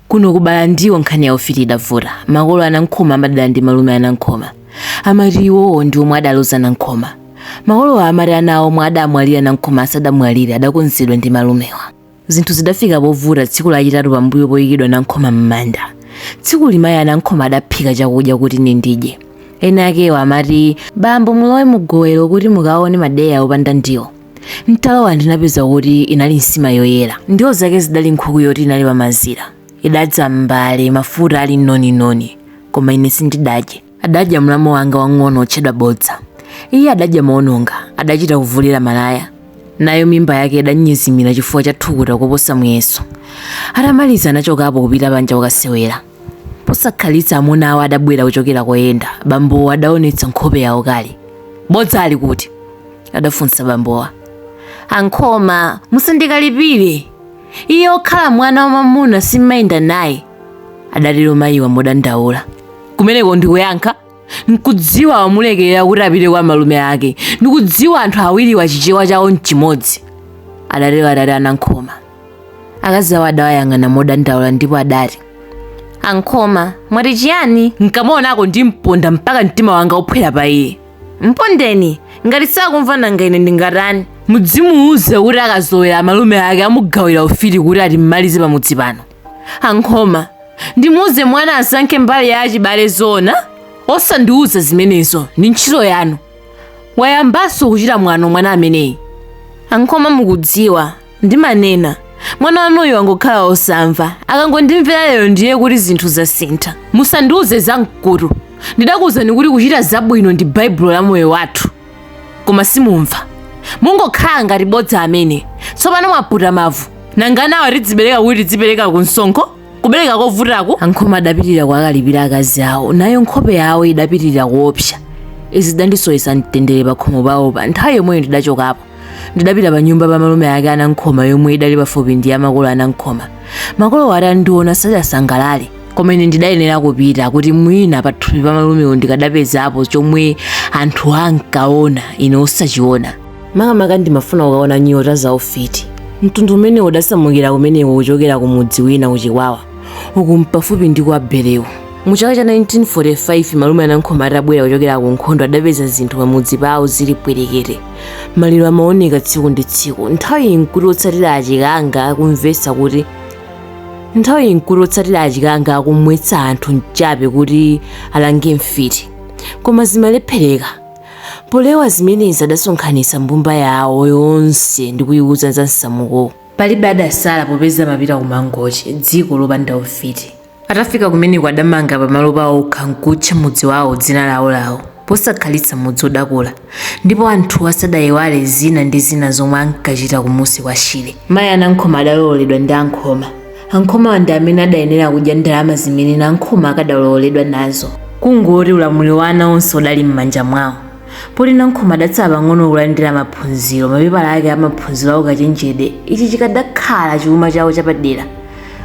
Kuno ku Balandiwo nkhani ya ufiti idavuta. Makolo a Nankhoma amadana ndi malume a Nankhoma. Amati iwowo ndi omwe adaloza a Nankhoma. Makolowa amati ana awo omwe adamwalira a Nankhoma asadamwalire adakonzedwa ndi malumewa. Zinthu zidafika povuta tsiku lachitatu pambuyo poikidwa a Nankhoma m'manda. Tsikuli mayi a Nankhoma adaphika chakudya kuti ine ndidye. Enakewo amati, Bambo mulowe mugowelo kuti mukaone madeya opanda ndiwo. ntalowa ndinapeza kuti inali nsima yoyera ndiwo zake zidali nkhuku yoti inali pamazira idadza m'mbale mafuta ali noninoni koma ine sindidadye adadya mlamu wanga wang'ono otchedwa bodza iye adadya moononga adachita kuvulira malaya nayo mimba yake idanyezimira chifukwa cha thukuta koposa muyeso atamaliza anachokapo kupita panja kukasewera Posakhalitsa amuna awo adabwera kuchokera koyenda. Bambowo adaonetsa nkhope yaukali. Bodza ali kuti? adafunsa bambowa. Ankhoma, musandikalipire. Iye okhala mwana wamamuna simmayenda naye, adatero mayiwa modandaula. Kumeneko ndikuyankha? Nkudziwa wamulekerera kuti apite kwa malume ake. Ndikudziwa anthu awiriwa chichewa chawo nchimodzi, adatero atate a Nankhoma. akazi awo adawayang'ana modandaula ndipo adati ankhoma mwati chiyani nkamuonako ndimponda mpaka mtima wanga uphwera pa iye mpondeni ngati sakumva nanga ine ndingatani mudzimuuze kuti akazowera amalume ake amugawira ufiti kuti atimalize pamudzi pano ankhoma ndimuuze mwana asankhe mbali ya achibale zoona osandiuza zimenezo ndi ntchito yanu wayambanso kuchita mwano mwana ameneyi ankhoma mukudziwa ndimanena mwana wanuyu wangokhala osamva akangondimvera lero ndiye kuti zinthu zasintha musandiuze za mkutu ndidakuuzani kuti kuchita zabwino ndi baibulo la moyo wathu koma simumva mungokhala ngati bodza amene tsopano mwaputa mavu nanga anawa tidzibereka kuti tidzipereka ku msonkho kubereka kovutaku ankhoma adapitirira kuwakalipira akazi awo nayo nkhope yawo idapitirira kuopsa izi zidandisowetsa mtendere pakhomo pawo pa nthawi yomweyo ndidachokapo ndidapita pa nyumba pa malume ake anankhoma yomwe idali pafupi ndi ya makolo anankhoma makolowo atandiona sadasangalale koma ine ndidayenera kupita kuti mwina pathupi pa malumewo ndikadapezapo chomwe anthu ankaona ine osachiona makamaka ndimafuna kukaona nyota za ufiti mtundu umenewo udasamukira kumeneko kuchokera ku mudzi wina kuchikwawa uku mpafupi ndi kwa berewu mu chaka cha 1945 malume anankhoma atabwera kuchokera ku nkhondo adapeza zinthu pamudzi pawo zili pwerekete maliro amaoneka tsiku ndi tsiku nthawiyi nkuti otsatira achikanga akumvetsa kuti nthawiyi nkuti otsatira achikanga akumwetsa anthu mchape kuti alange mfiti koma zimalephereka polewa zimenezi adasonkhanitsa mbumba yawo yonse ndi kuyiwuza za msamukowo palibe adasala popeza amapita ku mangochi dziko lopanda ufiti Atafika kumeneko adamanga pamalo pawo okha nkutcha mudzi wawo dzina lawolawo. Posakhalitsa mudzi udakula, ndipo anthuwa sadaiwale zina ndi zina zomwe ankachita kumunsi kwa Shire. Mayi a Nankhoma adalowoledwa ndi a Nkhoma. A Nkhomawa ndi amene adayenera kudya ndalama zimene Nankhoma akadalowoledwa nazo. Kungoti ulamuliro wa ana onse udali m'manja mwawo. poti nankhoma adatsala pang'ono kulandira maphunziro mapepala ake amaphunziro a ukachenjede ichi chikadakhala chuma chawo chapadera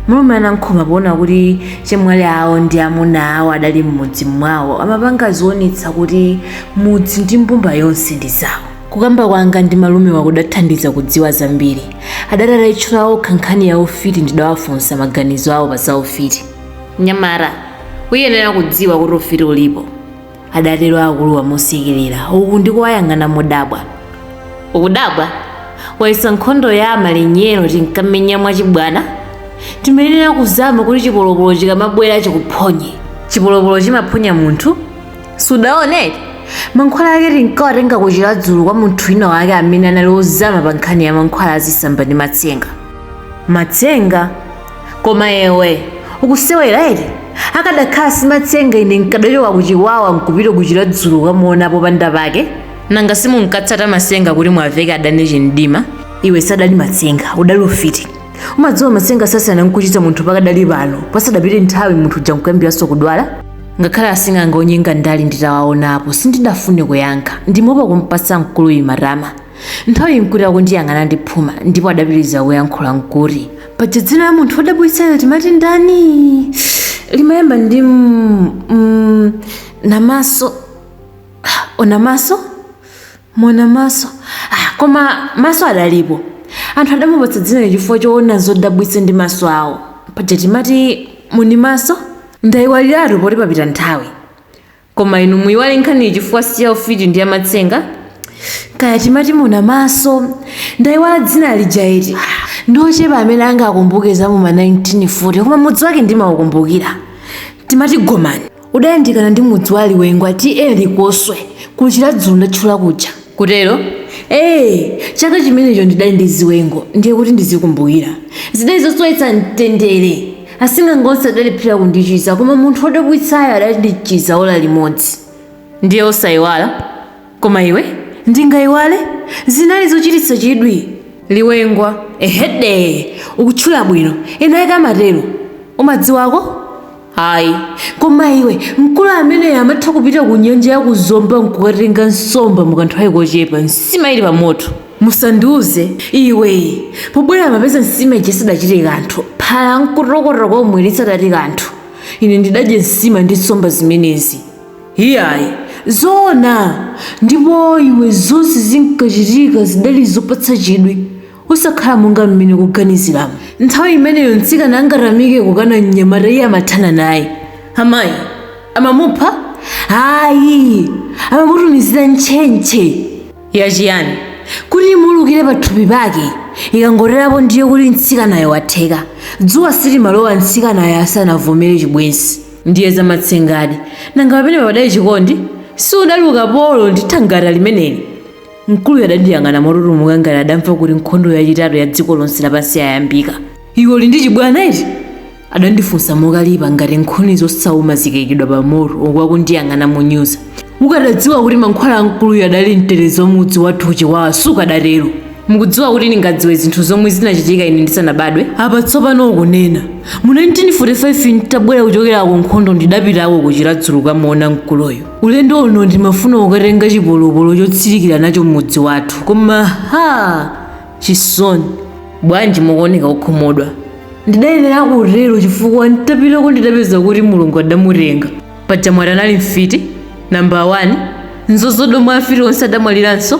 malume anankhoma poona kuti chemwali awo ndi amuna awo adali m'mudzi mwawo amapanga zionetsa kuti mudzi ndi mbumba yonse ndi zawo kukamba kwanga ndi malumewa kudathandiza kudziwa zambiri adati atayitchula okha nkhani ya ufiti ndidawafunsa maganizo awo pa za ufiti mnyamata uyenera kudziwa kuti ufiti ulipo adatero akuluwa mosekerera uku ndikuwayang'ana modabwa ukudabwa wayesa nkhondo ya amalinyero tinkamenya mwachibwana timayenera kuzama kuti chipolopolo chikamabwera chikuphonye chipolopolo chimaphonya munthu sudaone eti mankhwala ake tinkawatenga ku chiradzulu kwa munthu wina wake amene anali ozama pa nkhani ya mankhwala azisamba ndi matsenga matsenga koma iwe ukusewera eti akadakhala si matsenga ine nkadachoka ku chikwawa nkupita ku chiradzulu kukamuona popanda pake nanga simunkatsata matsenga kuti muwaveke adani chimdima iwe sadali matsenga udali ufiti umadziwa matsenga sasiyana nkuchiritsa munthu pakadali pano pasadapite nthawi munthu uja nkuyambiranso kudwala ngakhale asing'anga onyenga ndali nditawaonapo sindidafune kuyankha ndimaopa kumpatsa mkuluyu matama Nthawiyi nkuti akundiyang'ana ndi phuma ndipo adapitiriza kuyankhula nkuti, Paja dzina la munthu wodabwitsayo timati ndani? Limayamba ndi m- m- namaso. Onamaso? Monamaso. Ah, koma maso adalipo. Anthu adamupatsa dzinali chifukwa choona zodabwitsa ndi maso awo. Paja timati munimaso? Ndaiwaliratu poti papita nthawi. koma inu muyiwale nkhaniyi chifukwa si ya ufiti ndi ya matsenga kaya timati muna maso ndayiwala dzina lija eti ndi ochepa amene angakumbuke za mu ma 1940 koma mudzi wake ndimaukumbukira timati gomani udayandikana ndi mudzi wa liwengwa ta likoswe ku chiradzulu ndatchula kuja kutero? Eee! Chaka chimenecho ndidali ndi ziwengo ndiye kuti ndizikumbukira. Zidali zosowetsa mtendere. Asing'anga onse adalephera kundichiza koma munthu wodabwitsayo adandichiza ola limodzi. Ndiye osaiwala? Koma iwe, ndingaiwale? Zinali zochititsa chidwi. Liwengwa, Ehee! Ukutchula bwino, enaake amatero. Umadziwako? ayi koma iwe mkulu amene amatha kupita ku nyanja ya kuzomba nkukatenga nsomba mukanthawi kochepa nsima ili pamoto musandiuze iwe pobwera amapeza nsima ija sadachite kanthu phala nkutokota komwe lisanati kanthu ine ndidadye nsima ndi nsomba zimenezi iyayi zoona ndipo iwe zonse zinkachitika zidali zopatsa chidwi osakhala monga mmene ukuganiziramu. Nthawi imeneyo mtsikana angatamike kukana mnyamata iye amathana naye. Amayi, amamupha? Ayi! Amamutumizira ntchentche! Ya chiyani? Kuti imuulukire pathupi pake. Ikangotero apo ndiye kuti mtsikanayo watheka. Dzuwa silimalowa mtsikanayo asanavomere chibwenzi. Ndiye zamatsengadi. Nanga pamenepa padali chikondi? Si udali ukapolo ndi thangata limeneli? Mkuluyo adandiyang'ana motutumuka ngati adamva kuti nkhondo yachitatu ya dziko lonse lapansi yayambika. Iwe uli ndi chibwana eti? adandifunsa mokalipa ngati nkhuni zosauma zikaikidwa pamoto uku akundiyang'ana monyoza. Ukadadziwa kuti mankhwala a mkuluyo adali mtetezi wa mudzi wathu Chiwawa sukadatero. Mukudziwa kuti ndingadziwe zinthu zomwe zinachitika ine ndisanabadwe? Apa tsopano ukunena. Mu 1945 n'tabwera kuchokera kunkhondo ndidapitako ku Chiradzulu kukamuona mkuluyo. Ulendo uno ndimafuna kukatenga chipolopolo chotsirikira nacho m'mudzi wathu, koma ha! Chisoni. Bwanji mukuoneka okhumudwa? Ndidayenera kutero chifukwa n'tapitako ndidapeza kuti Mulungu adamutenga. Paja mwati anali mfiti nambala wani? N'zozodomwa afiti onse adamwaliranso?